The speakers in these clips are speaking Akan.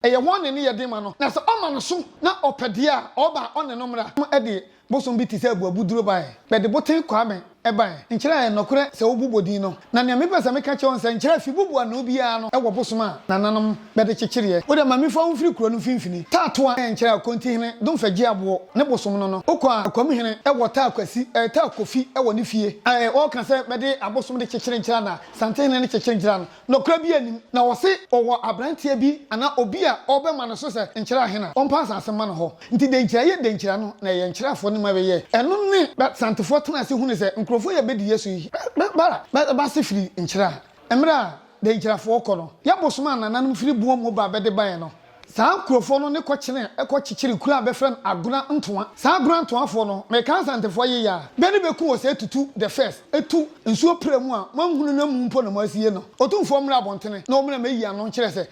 Ɛyɛ hɔn na ne yɛ den ma no, na sɛ ɔma no so na ɔpɛ dze a, ɔba a ɔnye no mbra. Wɔde bosom bi te sɛ abuabuduro baeɛ. Bɛde boten Kwame baeɛ. Nkyerɛ a ɛyɛ nɔkorɛ sɛ wobobɔ din no. Na nea mepɛ sɛ meka kyerɛ wo no sɛ nkyerɛ a Fibubu anoo biara no wɔ bosom a nananom bɛde kyekyereɛ. Wo deɛ ma mefa wo mfiri kuro no mfimfini. Taa Toa yɛ nkyerɛ a Kontihene Domfɛ Gyeaboɔ ne bosom no no. Wokɔ a Akwamhene wɔ Taa Kwasi, ɛɛ Taa Kofi wɔ ne fie. Ɛɛ wɔka sɛ bɛde abosom de kyekyere nkyerɛ a na Santehene ne kyekyere nkyerɛ a no. Nokorɛ biaa nnim. Na wɔse ɔwɔ abranteɛ bi anaa obi a ɔrebɛma no so sɛ nkyerɛ ahe na ɔmpa asaase mma no hɔ. Nti denkyira yɛ denkyira no na ɛyɛ nkyerɛfoɔ no ma bɛyɛɛ ɛno ne bɛ santefoɔ tenaa ase hunuu sɛ nkurɔfoɔ yi a bɛdi Yesu yi bɛ ba bɛ ba ase firi nkyira a mmerɛ a denkyirafoɔ kɔ no yɛ bosom a nananom firi boɔ mu ba bɛde baeɛ no. Saa nkurofoɔ no ne kɔ kyenee kɔ kyekyeree kuro a bɛfrɛ no Agona Ntoa. Saa Agona Ntoa foɔ no, mekaa Asantefoɔ yeye a, bɛ ne bɛ ku wɔ saa tutu the first, tu nsuo pira mu a moanhunu no amu mpo na moasie no. Otumfoɔ mmra abɔntene na ɔmmra mɛyi ano nkyerɛ sɛ.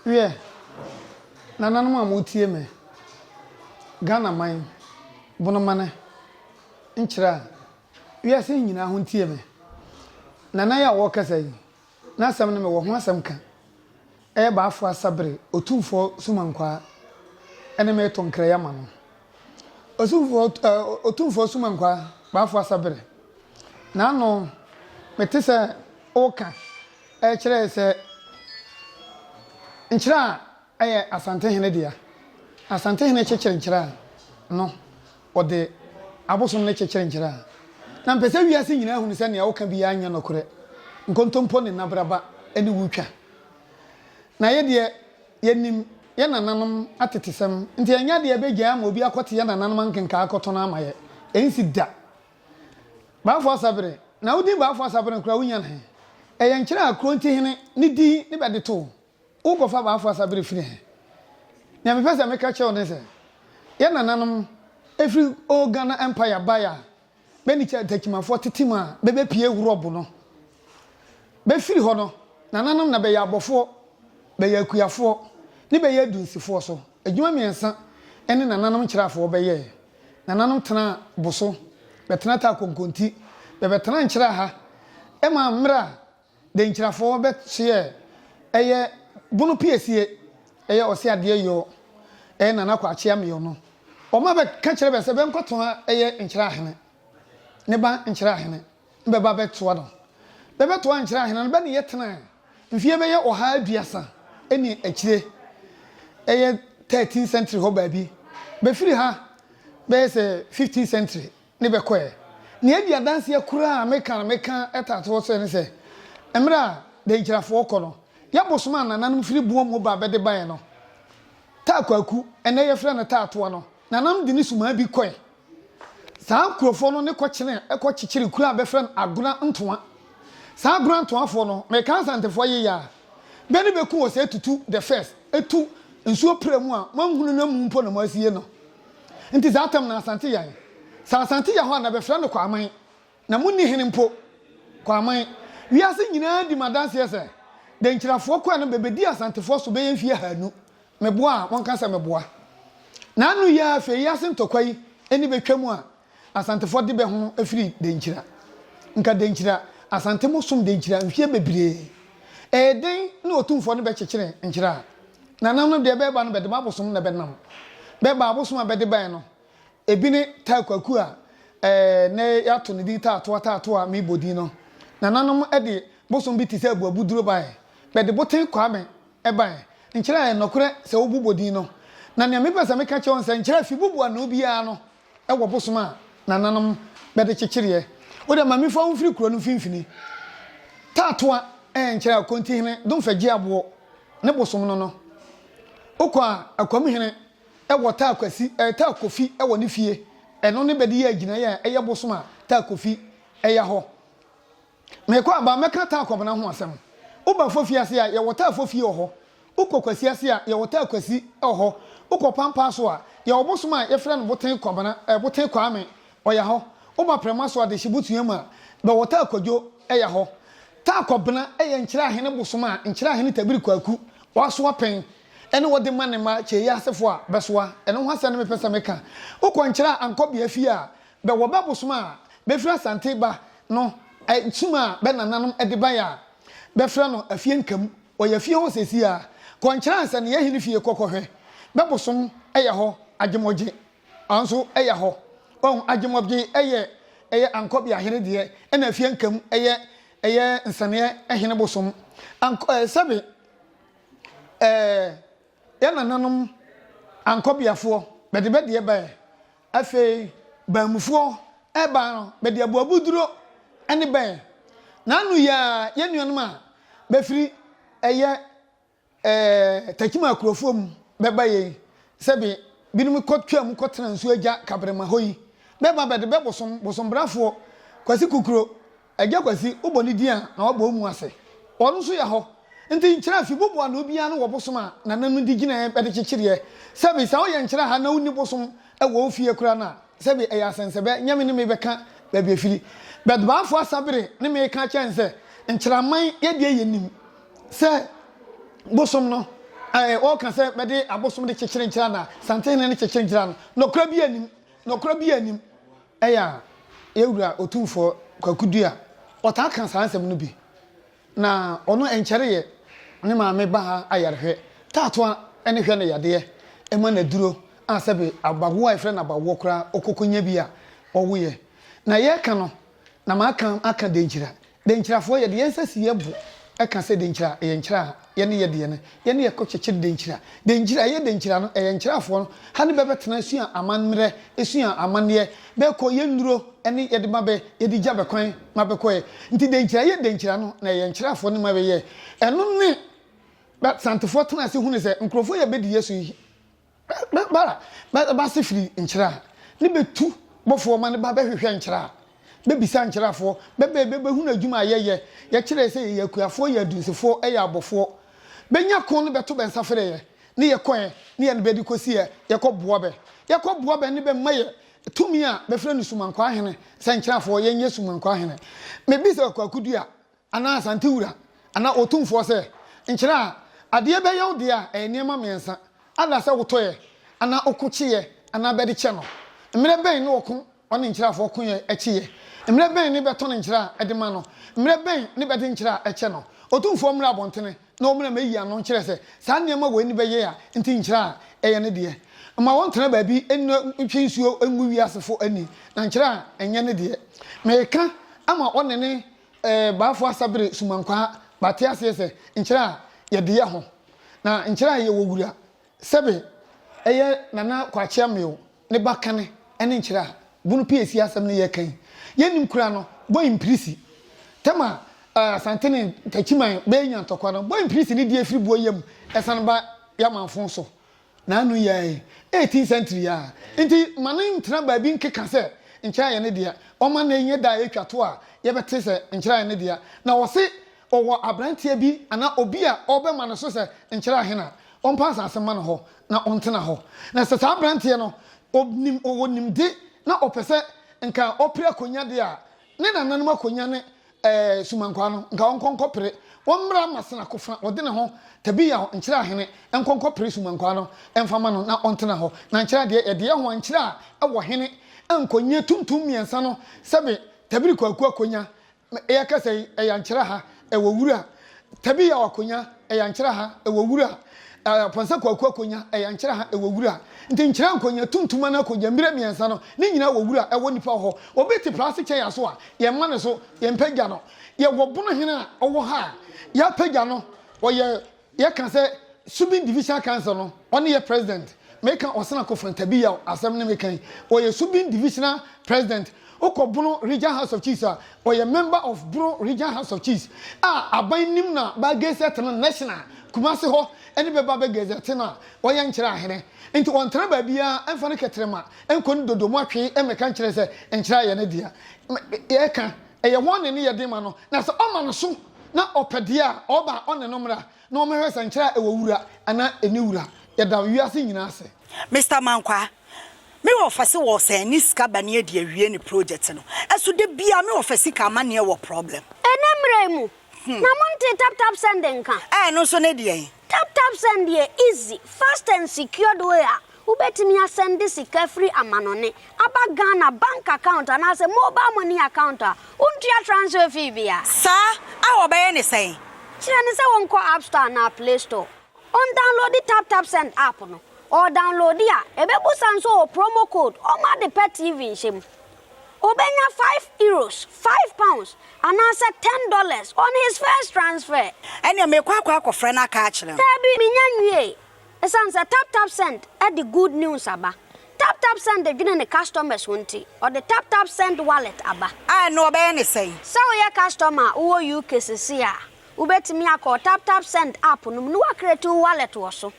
Wiɛ, Nananom a motie me, Ghana man, bonomane nkyerɛ a. Wiase nyinaa ho ntie me. Nana yi a wɔrekasa yi, n'asɛm no mewɔ ho asɛm ka. Ɛyɛ Baafo Asa bere, Otumfoɔ Sumankwaa ne me reto nkrɛyɛ ma no. Osumfoɔ ɛ, Otumfoɔ Sumankwaa, Baafo Asa bere. N'ano, mete sɛ woka ɛrekyerɛ sɛ nkyerɛ a yɛ Asantehene dea. Asantehene kyekyere nkyerɛ a, no, ɔde abosom no kyekyere nkyerɛ a, na mpɛ sɛ wiase nyinaa hunu sɛ nea ɔka biara nyɛ nɔkorɛ. Nkontompo ne nnabraba ne wo twa. Na yɛ deɛ, yɛnim yɛ nananom atetesɛm, nti ɛnyɛ adeɛ a ɛbɛgyae ama obi akɔte yɛ nananom ankenkaa akɔto no ama yɛ. Ɛnsi da. Baafoɔ Asabere, na wo din Baafoɔ Asabere no koraa, wonya no he? Ɛyɛ nkyerɛ a Kurontihene ne din ne bɛde too Worekɔfa m'afoa asa bere firi he? Nea mepɛ sɛ meka kyerɛ wo ne sɛ, yɛ nananom firi Old Ghana Empire bae a, bɛne Kyatakimafoɔ tete mu a bɛbɛpie Hurɔbo no. Bɛfiri hɔ no, nananom na bɛyɛ Abɔfoɔ, bɛyɛ Akuafoɔ, ne bɛyɛ Adunsifoɔ so. Adwuma mmiɛnsa ne nananom Nkyerɛafoɔ bɛyɛɛ. Nananom tenaa Boso, bɛtena Taa Konkonti, bɛbɛtenaa Nkyerɛaha maa mmerɛ a Denkyirafoɔ bɛ kyeɛ ɛyɛ bono piesie ɛyɛ ɔse adeɛ yɔɔ ɛyɛ Nana Kwaakyea meyɔ no ɔma bɛ ka kyerɛ bɛ sɛ bɛ nkɔ toa ɛyɛ Nkyira Ahene ne ba Nkyira Ahene no bɛ ba bɛ toa no bɛ bɛ toa Nkyira Ahene no bɛ ne yɛ tenaɛ mfie bɛyɛ ɔha aduasa ɛne akyire ɛyɛ thirteen century hɔ baabi bɛ firi ha bɛyɛ sɛ fifteen century. ne bɛkɔ ɛ. Nea edi adanseɛ koraa a meka na meka taa to hɔ sɛ ne sɛ, mmerɛ a Dankyirafoɔ kɔ no, yɛ bosom a nananom firi boɔ mu ba bɛde baeɛ no, Taa Kwaku, ɛnnɛ yɛfrɛ no Taa Toa no, nananom de ne sumaa bi kɔe. Saa nkurofoɔ no ne kɔkyenee kɔ kyekyeree kuro a bɛfrɛ no Agona Ntoa. Saa Agona Ntoafoɔ no, meka Asantefoɔ yeyɛ a, bɛ ne bɛku wɔ sɛ tutu the first, tu nsuo pira mu a moanhunu no amu mpo na moasie no. Nti saa tam na Asante yɛn. Sɛ Asante yɛ hɔ a na bɛfrɛ no Kwaman. Na monni hene mpo. Kwaman. Wiase nyinaa di me adanseɛ sɛ Denkyirafoɔ kɔɛ no bɛbɛdi Asantefoɔ so bɛyɛ mfie ahaanu. Meboa a, monka sɛ meboa. Na ano yi ara afei yi ase ntɔkwa yi ani bɛtwam a, Asantefoɔ de bɛ ho firi Dankyira. Nka Dankyira, Asante mo som Dankyira mfeɛ bebree. Ɛyɛ den ne Otumfoɔ no bɛ kyekyere nkyera. Nanam no deɛ bɛba no bɛ de mo abosom na bɛ nam. Bɛ ba abosom a bɛ de baɛ no ebi ne Taa Kwaku a nnɛ y'ato ne din Taatoa Taatoa me bɔ din no. Nananom de bosom bi te sɛ Abuabuduro baɛ. Bɛ de Boten Kwame baɛ. Nkyera ɛyɛ nɔkorɛ sɛ wo bo bɔ din no. Na nea me pɛ sɛ me ka kyerɛ wo ne sɛ nkyera fi bo bɔ ano biara no wɔ bosom a nananom bɛde kyekyereɛ. Wo deɛ mame fa wo mfiri kuro no mfimfini. Taatoa nkyerɛ Akontihene Domfɛ gye aboɔ ne bosom no no. Wokɔ a Akwamuhene wɔ taa kwasi eh, taa kofi wɔ ne fie. Ɛno ne bɛde yɛ agyinaeɛ a ɛyɛ bosom a taa kofi ya hɔ. Mekɔ a, ba mɛka taa kɔbena ho asɛm. Wo ba fofie ase a, yɛwɔ taa fofie wɔ hɔ. Wo kɔ kwasi ase a, yɛwɔ taa kwasi wɔ hɔ. Wo kɔ pampaa so a, yɛwɔ bosom a yɛfrɛ no boten kɔbena, eh, boten kwaame, ɔya hɔ. Wo ba prɛma so a, de hyebotua mu a, bɛwɔ taa kwadwo ɛya hɔ. Taa kɔbena ɛyɛ nkyerɛahene bosom a nkyerɛahene tabiri kwaku ɔasoa pɛn ɛne ɔde ma ne mma kyeeɛ asefo a bɛsoa. Ɛno ho asɛm ne mepɛ sɛ meka. Wo kɔ nkyerɛ a ankɔbea fie a, Bɛ wɔ bɛ bosom a befiri Asante ba no nkyim a bɛ nananom de bae a bɛfrɛ no Afie Nkamu. Ɔyɛ fie hɔ seesei ara. Kɔ Nkyerɛ Ansania Hene fie kɔ kɔhwɛ. Bɛ bosom yɛ hɔ Agyemɔgye nso yɛ hɔ. Wahu? Agyemɔgye yɛ yɛ Ankɔbea hene deɛ ɛna Afie Nkamu yɛ yɛ Nsaneɛ hene bosom. Ank eh, sɛbe eh, yɛ nananom Ankɔbeafoɔ bɛde bɛ deɛ baɛ Afei baanmufoɔ rebaa no, bɛde aboabuduro ne bɛɛ. N'ano yɛa yɛ nuanom a bɛfiri ɛyɛ ɛɛ Takyima akurofoɔ mu bɛba yei, sɛ be binom kɔ twaa mu kɔtena nsuo agya Kabrema hɔ yi, bɛba bɛde bɛ bosom, bosombrafoɔ, Kwasi Kukuro, Agya Kwasi, wo bɔ ne din a, na wabɔ wo mu ase. Ɔno nso yɛ hɔ. Nti nkyerɛ fi bobo ano biara no wɔ bosom a Nana no de gyinaeɛ bɛde kyekyereɛ. Sɛbi, sɛ woyɛ nkyerɛ ha na wonni bosom wɔ wo fie koraa no a, sɛbi ɛyɛ asɛnsɛbɛ, nyɛ me ne mebɛka baabi ɛfiri. But Baafoɔ Asabere ne me reka akyerɛ no sɛ, Nkyerɛman yɛ deɛ yɛnim sɛ bosom no, ɛɛ, wɔka sɛ bɛde abosom de kyekyere nkyerɛ anaa? Santehene no kyekyere nkyerɛ no. Nɔkorɛ biara nnim. Nɔkorɛ biara nnim. Ɛyɛ a yɛn Wura Otumfoɔ Kwaku Duah ɔtaa ka saa nsɛm no bi. Na ɔno ɛnkyɛreeɛ ne maame ba ha ayarehwɛ, taatoa ne hwɛ no yadeɛ, ɛma no aduro a sɛbe abawoɔ a yɛfrɛ no abawoɔ koraa ɔkɔkɔnya bi a ɔwoeɛ. Na yɛreka no na maka aka denkyira Denkyirafoɔ, Yɛde yɛn nsa si yɛn bo ka sɛ denkyira, ɛyɛ nkyira a yɛne yɛ deɛ no, yɛne yɛ kɔ kyekyere denkyira. Denkyira, ɛyɛ denkyira no, ɛyɛ nkyirafoɔ no, ha ne bɛ bɛtena asua amammerɛ, asua amanneɛ, bɛ kɔ yɛ nnuro ne yɛde ma bɛ, yɛde gya bɛ kwan ma bɛ kɔɛ. Nti denkyira, ɛyɛ denkyira no, na ɛyɛ nkyirafoɔ ne ma bɛ yɛɛ. Ɛno ne Bɛ Santefoɔ tena ase hunu sɛ nkurɔfoɔ yi a bɛ di yɛ so yi, Bɛ bɛ ba bɛ bɛ ase firi nkyerɛ a, ne bɛtu bɔfoɔ ma no ba bɛhwehwɛ nkyerɛ a, bɛbisa nkyerɛfoɔ, bɛba yi bɛbɛhunu adwuma a yɛyɛ, yɛkyerɛɛ sɛ yɛyɛ akuafoɔ, yɛ adunsifoɔ, yɛ abɔfoɔ. Bɛnya ko ne bɛto bɛnsa frɛ yɛ, ne yɛkɔɛ ne yɛne bɛ de kɔsi yɛ, yɛkɔ boa bɛ. Yɛkɔ boa bɛ ne bɛ ma yɛ tumi a bɛfrɛ no Sumankwaa Hene, sɛ nkyerɛfoɔ, yɛnyɛ Sumankwaa Hene. Mebisa Kwaku Dua, anaa Asante Wura anaa Otumfoɔ sɛ, Nkyerɛ a adeɛ bɛyɛ wo deɛ a ɛyɛ nneɛma mmiɛnsa, ada sɛ wotɔeɛ anaa ɔko kyeeɛ anaa bɛde kyɛ no. Mmerɛ bɛn ne ɔko ɔne nkyerɛafoɔ koeɛ kyeeɛ? Mmerɛ bɛn ne bɛtɔn nkyerɛ a de ma no? Mmerɛ bɛn ne bɛde nkyerɛ a kyɛ no? Otumfoɔ mmra abɔntene na ɔmmra mmɛyi ano nkyerɛ sɛ saa nneɛma wei ne bɛyɛ a nti nkyerɛ a ɛyɛ ne deɛ. Mma wɔntena baabi nnɔ ntwe nsuo ngu wiasefo ani na nkyerɛ a nyɛ ne deɛ. Meka ama ɔne ne. Ɛɛ, b'afo asa bere sumankwaa b'ate aseɛ sɛ nkyerɛ a yɛde yɛ ho na nkyerɛ a yɛwɔ wura sɛbe ɛyɛ Nana Kwakye Amew ne ba kane ɛne nkyerɛ a bunu pii asi asɛm no yɛka yi yɛ nnim koraa no bɔ mpirisi tɛm a Asante ne Takyiman bɛɛ nya ntɔkwa no bɔ mpirisi ne deɛ firi boɔ yɛ mu ɛsane ba yɛ amanfo so N'ano yɛe eighteenth century a nti ma no ntena baabi nkeka sɛ nkyerɛae no deɛ ɔma nnɛ nyɛ da a ɛtwa to a yɛbɛte sɛ nkyerɛae no deɛ na ɔse ɔwɔ abranteɛ bi anaa obi a ɔrebɛma no so sɛ nkyerɛ ahe na ɔmpa asase mma no hɔ na ɔntena hɔ na sɛ saa abranteɛ no ɔnim ɔwɔ nimde na ɔpɛ sɛ nka ɔpere akonnwa deɛ a Ne nananom akonya ne ɛɛ sumankwaa no, nka ɔnkɔ nkɔpere, ɔmmra mmasena kofa ɔde ne ho, Tabiao, nkyerɛ ahene, nkɔ nkɔpere sumankwaa no mfa ma no na ɔntena hɔ, na nkyerɛ adeɛ, yɛdeɛ ho a nkyerɛ a ɛwɔ hene a nkonyie tuntum mmiɛnsa no, sɛbe Tabiri Kwaku akonya, me, eɛ kasa yi, ɛyɛ ankyerɛ ha, Ɛwɔ wura, Tabi Yaw Akonya, ɛyɛ nkyerɛ ha, ɛwɔ wura, eh, Pɔnsa Kwaku Akonya, ɛyɛ nkyerɛ ha, ɛwɔ wura. Nti nkyerɛ nkonya, tuntum anaa kogya, mbira mmiɛnsa no, ne nyinaa wɔ wura, ɛwɔ nipa hɔ. Obi te prase kyɛ yɛn aso a, yɛmma ne so, yɛmpagya no. Yɛwɔ bonohene a ɔwɔ ha a, yɛapagya no, ɔyɛ Yɛ ka sɛ Subin Divisional Council no, ɔne yɛ President. Me ka Osena Kofran Tabiyaw asɛm ne me ka yi. Ɔyɛ Subin Divisional President. Wo kɔ Bono Region House of Chiefs a, ɔyɛ Member of Bono Region House of Chiefs a aban nim na bɛ gazette no National. Kumasi hɔ ne bɛ ba bɛ gazette no a ɔyɛ nkyerɛ ahene. Nti ɔntena baabiara ɛmfa ne kɛtrɛma nkɔ ne dodo mu atwe ɛmɛka nkyerɛ sɛ nkyerɛ ayɛ ne dea. Yɛ ka ɛyɛ hɔn ne ne yɛ den ma no na sɛ ɔma no so. na ɔpɛ deɛ a, ɔba a ɔne no mmra na wɔmmɛhwɛ sɛ nkyerɛ a ɛwɔ wura anaa ɛnni wura. Yɛda wiase nyinaa ase. Mister Mankwaa, me wɔ fɛse wɔ sɛ ne sika bɛne adi awie ne project no ɛso da biaa me wɔ fɛ sika ama neɛ wɔ problem. Ɛnɛ mmerɛ yi mu na mo ntee tap tap send nka. Ɛɛ ɛno nso ne deɛn? Tap Tap Send yɛ easy, fast and secured way a wobɛtumi asɛnde sika firi amanɔne aba Ghana bank account anaasɛ mobile money account a wontua transfer fee bia. Saa a wɔbɛyɛ ne sɛn? Kyerɛ no sɛ ɔnkɔ App Store anaa Play Store, ɔndownloadi Tap Tap Send app no, ɔredownloadi a, ɛbɛbusa no sɛ ɔwɔ promo code, ɔmma ade pa TV nhyɛ mu, Obenya five euros, five pounds, anaasɛ ten dollars on his first transfer. Ɛnneɛ merekɔ akɔ akɔfrɛ no aka akyerɛ no. Daabi, mennya nwiee. Esiane sɛ TapTapSend de good news aba, TapTapSend dwene ne customers ho nti, ɔde TapTapSend Wallet aba. A ɛno wɔbɛyɛ no sɛn? Sɛ woyɛ customer a wowɔ UK seesei a, wubetumi akɔ TapTapSend app no mu na woacreate wo wallet wɔ so.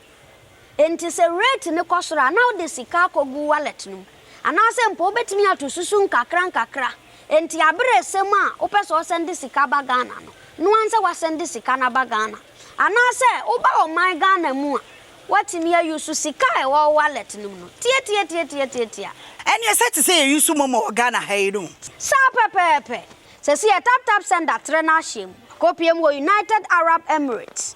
Enti sɛ rate no kɔ soro a, na wode sika akɔgu wallet no mu. Anaasɛ mpo wobɛtumi ato susu nkakrankakra. Enti aber a ɛsɛ mu a wopɛ sɛ ɔsɛnde sika ba Ghana no, noa nsɛ woasɛnde sika no aba Ghana. Anaasɛ woba ɔman Ghana mu a, woatumi a use sika a ɛwɔ wo wallet no mu no. Tiatiatiatiatiatia. Ɛnneɛ ɛsɛ te sɛ yɛ use momo wɔ Ghana ha yi no? Saa pɛpɛɛpɛ. Sɛsi yɛ tap tap send atrɛ no ahyɛ mu. Akɔpue mu wɔ United Arab Emirates.